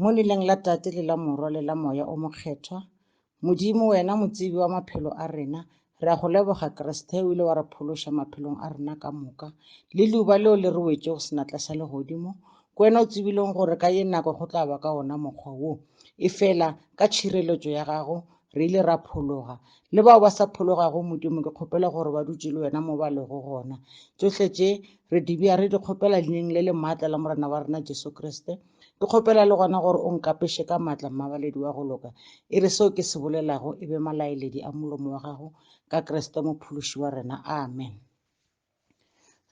Mo leleng la Tate le la Morwa le la Moya o Mokgethwa, Modimo, Wena Motsebi wa maphelo a rena, re a Go leboga, Kriste, O ile wa re phološa maphelong a rena ka moka. Le Leuba leo le re wetšego senatla sa legodimo, ke Wena o tsebilego gore ka ye nako go tla ba ka wona mokgwa wo. Efela, ka tšhireletšo ya Gago, re ile ra phologa. Le bao ba sa phologago, Modimo, ke kgopela gore ba dutše le Wena mo ba lego gona. Tšohle tše, re di bea, re di kgopela Leineng le le maatla la Morena wa rena Jesu Kriste. Ke kgopela le gona gore o nkapeše ka maatla mmabaledi wa go loka, e re seo ke se bolelago e be malaeledi a molomo wa gago, ka Kriste Mophološi wa rena. Amen.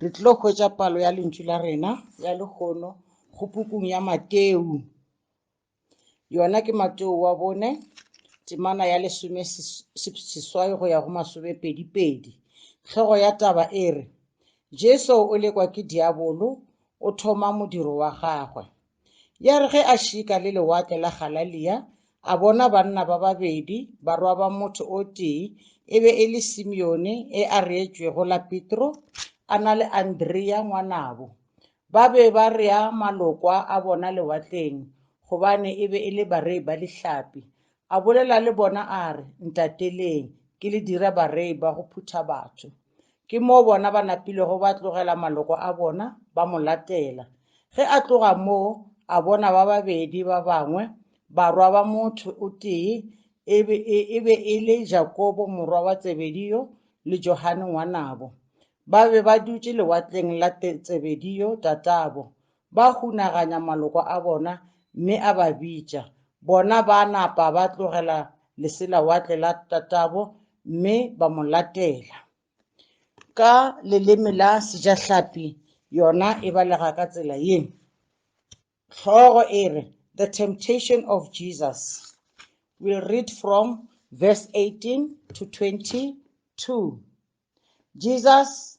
Re tlilo hwetša palo ya lentšu la rena ya lehono go pukung ya Mateu. Yona ke Mateu wa bone, temana ya lesome seswai go ya go masome pedi pedi. Tlhogo ya taba e re, Jesu o lekwa ke diabolo o thoma modiro wa gagwe. Ya re ge a šika le lewatle la Galalia, a bona banna ba babedi, barwa ba motho o tee, e be e le Simeone e a reetšwego la Petro, a na le Andrea ngwanabo. Ba be ba rea malokwa a bona lewatleng, gobane e be e le barei ba lihlapi. A bolela le bona a re, Ntateleng, ke le dire barei ba go phutha batho. Ke moo bona ba napilego ba tlogela maloko a bona, ba mo latela. Ge a tloga moo, a bona ba babedi ba bangwe, barwa ba motho o tee, e be e, e be e le Jakobo morwa wa Tsebedio le Johane ngwanabo. Ba be ba dutše lewatleng la Tsebedio tatabo, Ba hunaganya maloko a bona mme a ba bitša. Bona ba napa ba tlogela leselawatle la tatabo mme ba mo latela. Ka leleme la Sejahlapi yona e balega ka tsela ye. Hlogo e re, The Temptation of Jesus. We'll read from verse 18 to 22. Jesus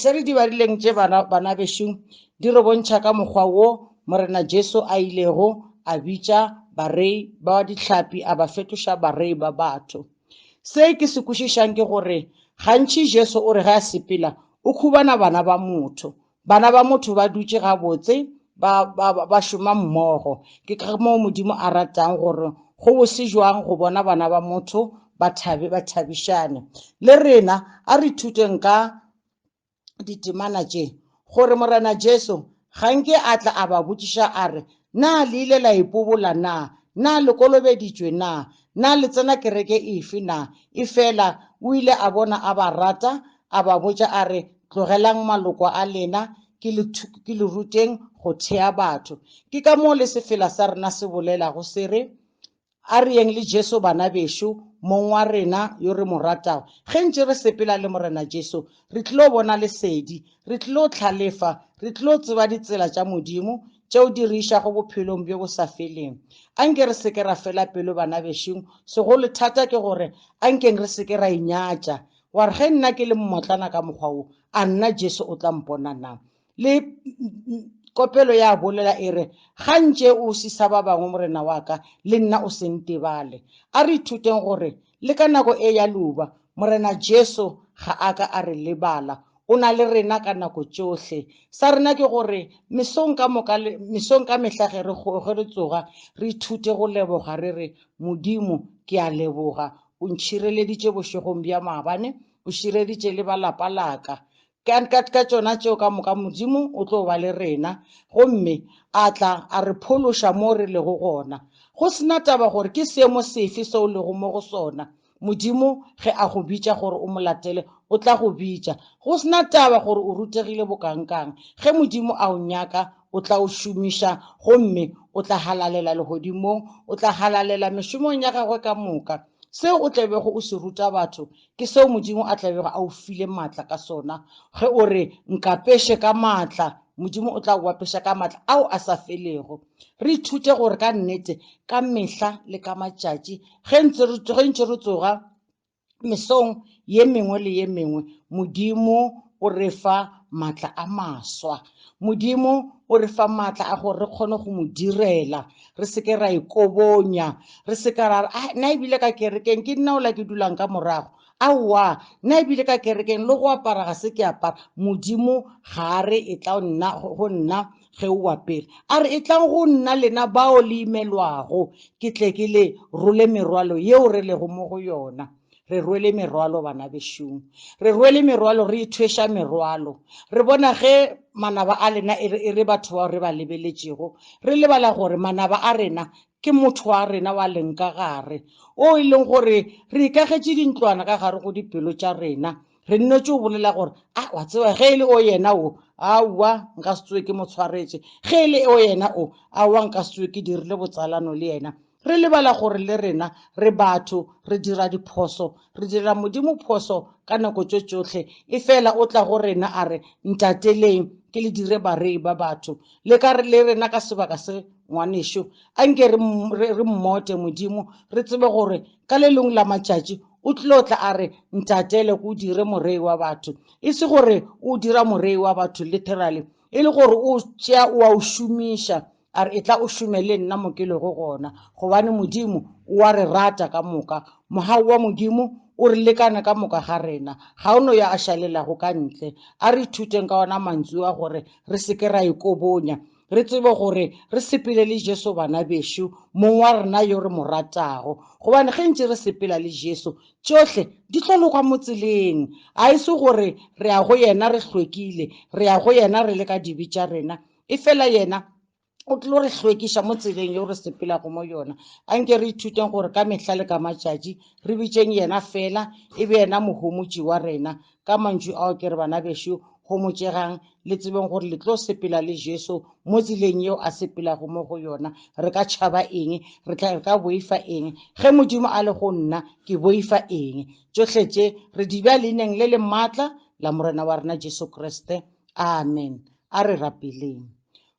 Se re dibarileng tše bana, bana bešung, di re bontšha ka mokgwa wo Morena Jesu a ilego a bitša barei ba dihlapi a ba fetoša barei ba batho. Se ke se kwešišang ke gore gantši Jesu o re ge a sepela o khubana bana ba motho. Bana ba motho ba dutše gabotse ba, ba, ba šoma mmogo. Ke ka moo Modimo a ratang gore go bose jwang go bona bana ba motho Bathabi ba thabišane le rena. A re ithuteng ka ditemana tše, gore Morena Jesu ga nke a tla a ba botšiša a re, Na le ile la ipobola na? Na le kolobeditšwe na? Na le tsena kereke efe na? Efela o ile a bona a ba rata, a ba botša a re, Tlogelang maloko a lena, ke le, ke le ruteng go thea batho. Ke ka moo le sefela sa rena se bolelago se re, A re yeng le Jesu bana bešo, Mong wa rena yo re mo ratago. Ge ntše re sepela le Morena Jesu, re tlilo bona lesedi, re tlilo hlalefa, re tlilo tseba ditsela tša Modimo tšeo di re išago bophelong bjo bo sa feleng. A nke re se ke ra fela pelo bana bešong, segolo thata ke gore a nkeng re se ke ra inyatša, wa re, Ge nna ke le mmotlana ka mokgwa wo, a nna Jesu o tla mpona na? Le kopelo ya bolela e re, Ga ntše o sisa ba bangwe, Morena wa ka, le nna o se ntebale. A re ithuteng gore le ka nako e ya leuba, Morena Jesu ga a ka a re lebala. O na le rena ka nako tšohle. Sa rena ke gore mesong ka moka, mesong ka mehla ge re, ge re tsoga, re ithute go leboga re re, Modimo, ke a leboga. O ntšhireleditše bošegong bja maabane, o šireditše le ba lapa la ka. Ka, ka, ka tšona tšeo ka moka, Modimo o tlo ba le rena, gomme A tla a re phološa mo re lego gona. Go se na taba gore ke seemo sefe se o lego mo go sona, Modimo ge A go bitša gore o Mo latele, O tla go bitša. Go se na taba gore o rutegile bokangkang, ge Modimo a o nyaka, O tla o šomiša, gomme o tla halalela Legodimong, o tla halalela mešomong ya Gagwe ka moka. Seo o tla bego o se ruta batho, Ke seo Modimo a tla bego a o file maatla ka sona. Ge o re, Nkapeše ka maatla, Modimo o tla go apeša ka maatla ao a sa felego. Re ithute gore ka nnete, ka mehla le ka matšatši, ge ntse re, ge ntše re tsoga mesong ye mengwe le ye mengwe, Modimo o re fa maatla a maswa modimo o re fa maatla a gore re kgone go mo direla re seke ra ikobonya e re seka ra a ah, nna ebile ka kerekeng ke nna ola ke dulang ka morago aowa nna ebile ka kerekeng le go apara ga se ke apara modimo ga a re e tla nna go nna ge o apere a re e tlang go nna lena bao le imelwago ke tle ke le role merwalo yeo re lego mo go yona Re rwele merwalo, bana bešung. Re rwele merwalo, re ithweša merwalo. Re bona ge manaba a lena e re, e re batho bao re ba lebeletšego. Re lebala gore manaba a rena ke motho wa rena wa leng ka gare, o e leng gore re ikagetše dintlwana ka gare go dipelo tša rena. Re nnetše o bolela gore, A, wa tseba, ge e le o yena o, aowa, nka se tsoe ke mo tshwaretše. Ge e le o yena o, aowa, nka se tsoe ke dirile botsalano le yena. Re lebala gore le rena re batho, re dira diphoso. Re direla Modimo phoso ka nako tšo tšohle. Efela o tla go rena a re, Ntateleng, ke le dire barei ba batho. Le ka re le rena ka sebaka se, Ngwanešu, anke re, re, re mmote Modimo, re tsebe gore ka le lengwe la matšatši O tlo tla a re, Ntatele, ke o dire morei wa batho. E se gore O o dira morei wa batho literally, e le gore O o tšea o a o šomiša a re, Etla o šome le nna mo ke lego gona, gobane Modimo o a re rata ka moka. Mogau wa Modimo o re lekana ka moka ga rena. Ga o no yo a šalelago ka ntle. A re ithuteng ka ona mantsu a gore re se ke ra ikobonya, re tsebe gore re sepele le Jesu bana bešo, Mong wa rena yo re mo ratago. Gobane ge ntše re sepela le Jesu, tšohle di tlo loka mo tseleng. A e se gore re ya go yena re hlwekile, re ya go yena re le ka dibe tša rena, Efela yena o tlo re hlwekiša mo tseleng yeo re sepelago mo yona. Anke re ithuteng gore ka mehla le ka matšatši re bitšeng yena feela, e be yena Mohomotši wa rena. Ka mantšu ao ke re, bana bešo, homotšegang le tsebeng gore le tlo sepela le Jesu mo tseleng yeo a sepelago mo go yona. Re ka tšhaba eng? Re tla, re ka boifa eng? Ge Modimo a le go nna, ke boifa eng? Tšohle tše re di bea leineng le le maatla la Morena wa rena Jesu Kriste. Amen. A re rapeleng.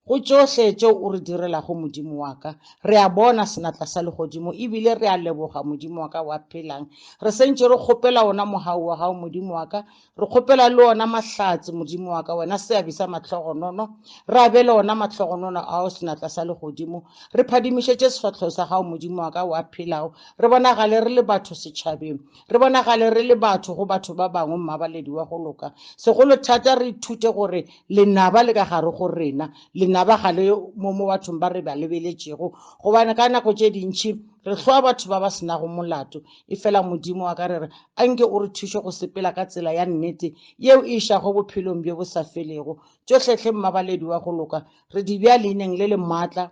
Go tšohle tšeo o re direlago, Modimo wa ka, re a bona senatla sa legodimo, e bile re a leboga, Modimo wa ka wa phelang. Re sentše re kgopela wona mogau wa gago, Modimo wa ka. Re kgopela le ona mahlatse, Modimo wa ka, wena seabi sa mahlogonono. Re abele ona mahlogonono ao senatla sa legodimo. Re phadimišetše sefahlogo sa gago, Modimo wa ka wa phelago, re bonagale re le batho setšhabeng. Re bonagale re le batho go batho ba bangwe mmabaledi wa go loka. Segolo thata re ithute gore lenaba le ka gare go rena. Lenaba ga le mo mo bathong ba re ba lebeletšego gobane ka nako tše dintši re hloa batho ba ba senago molato. Efela Modimo wa ka re re a nke o re thuše go sepela ka tsela ya nnete yeo e išago bophelong bjo bo sa felego. Tšohlehle mmabaledi wa go loka re di bea leineng le le maatla